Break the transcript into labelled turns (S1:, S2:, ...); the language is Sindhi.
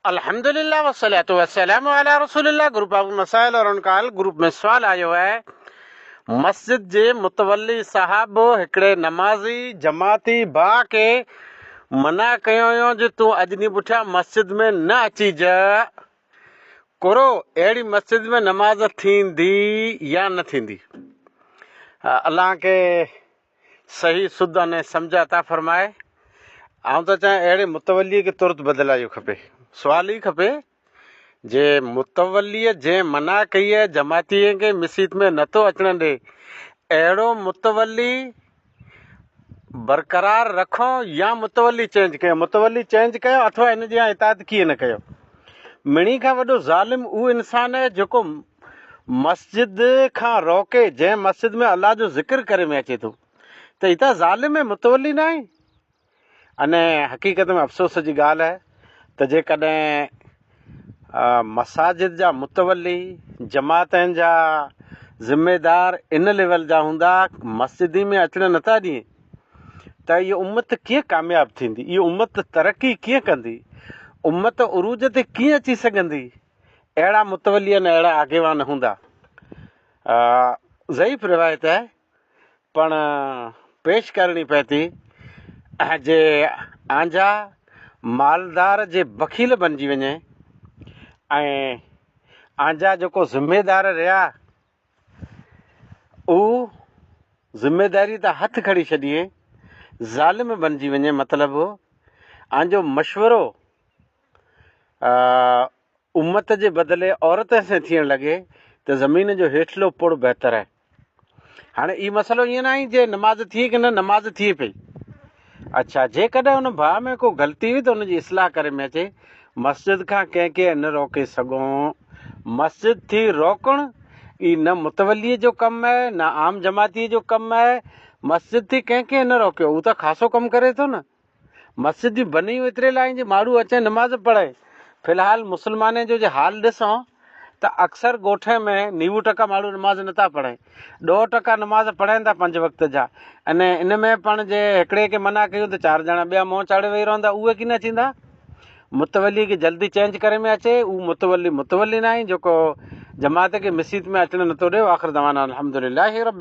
S1: الحمد لله والصلوة والسلام علي رسول الله گروپ آف مسائل اور ان کا حل گروپ ۾ سوال آيو آهي مسجد جي متولي صاحب هڪڙي نمازي جماعتي ڀاء کي منع ڪيو هيون جو تون اڄ ڏينهن پٺيان مسجد ۾ نه اچيج ڪرو اهڙي مسجد ۾ نماز ٿيندي يا نه ٿيندي الله کي صحيح سڌ انهي سمجھ عطا فرماء. آئون ٿو چاهيان اهڙي متوليء کي ترت بدلايو کپي. سوال هي کپي جي متوليء جنهن منع ڪئي آهي جماعتين کي مسيت ۾ نه ٿو اچڻ ڏي اهڙو متولي برقرار رکون يا متولي چينج ڪيون متولي چينج ڪيو اٿوا ان جيان اطاعت ڪيئن نه ڪيو. مڙني کان وڏو ظالم اهو انسان آهي جيڪو مسجد کان روڪي جنهن مسجد ۾ الله جو ذڪر ڪري ۾ اچي ٿو ته هي ته ظالم ۽ متولي ناهي اني حقيقت ۾ افسوس جي ڳالهه آهي ته جيڪڏهن مساجد جا متولي جماعتن جا ذميدار ان ليول جا هوندا مسجدي ۾ اچڻ نٿا ڏين ته هي امت ڪيئن ڪامياب ٿيندي هي امت ترقي ڪيئن ڪندي امت عروج تي ڪيئن اچي سگهندي اهڙا متولي ۽ اهڙا آگيوان هوندا. ضعيف روايت آهي پڻ پيش ڪرڻي پئي ٿي جي آنجا مالدار جي بخيل بنجي وڃي ۽ آنجا جيڪو ذميدار رهيا هو ذميداري تان هٿ کڻي ڇڏي ظالم بنجي وڃي مطلب آنجو مشورو امت جي بدلي عورت سين ٿيڻ لڳي ته زمين جو هيٺلو پڙ بهتر آهي. هاڻي هي مسئلو ائين ناهي جي نماز ٿئي ڪي نه نماز ٿئي پئي. اڇا جيڪڏهن ان ڀاء ۾ ڪو غلطي هئي ته ان جي اصلاح ڪري ۾ اچي مسجد کان ڪنهن کي نه روڪي سگهون. مسجد ٿي روڪڻ ئي نه متولي جو ڪم آهي نه عام جماعتي جو ڪم آهي. مسجد ٿي ڪنهن کي نه روڪيو هو ته خاصو ڪم ڪري ٿو نه. مسجد جون بنيون ايتري لاهين جي ماڻهو اچين نماز پڙهين. في الحال مسلمانين جو جي حال ڏسون ته اڪثر ڳوٺين ۾ نيوو ٽڪا ماڻهو نماز نٿا پڙهين. ڏهه ٽڪا نماز پڙهين ٿا پنج وقت جا ۽ ان ۾ پڻ جي هڪڙي کي منع ڪيون ته چار ڄڻا ٻيا منهن چاڙهي ويهي رهندا اهي ڪين اچيندا. متولي کي جلدي چينج ڪري ۾ اچي اهو متولي متولي ناهي جيڪو جماعت کي مسيت ۾ اچڻ نٿو ڏي واخر دعوانا الحمدلله رب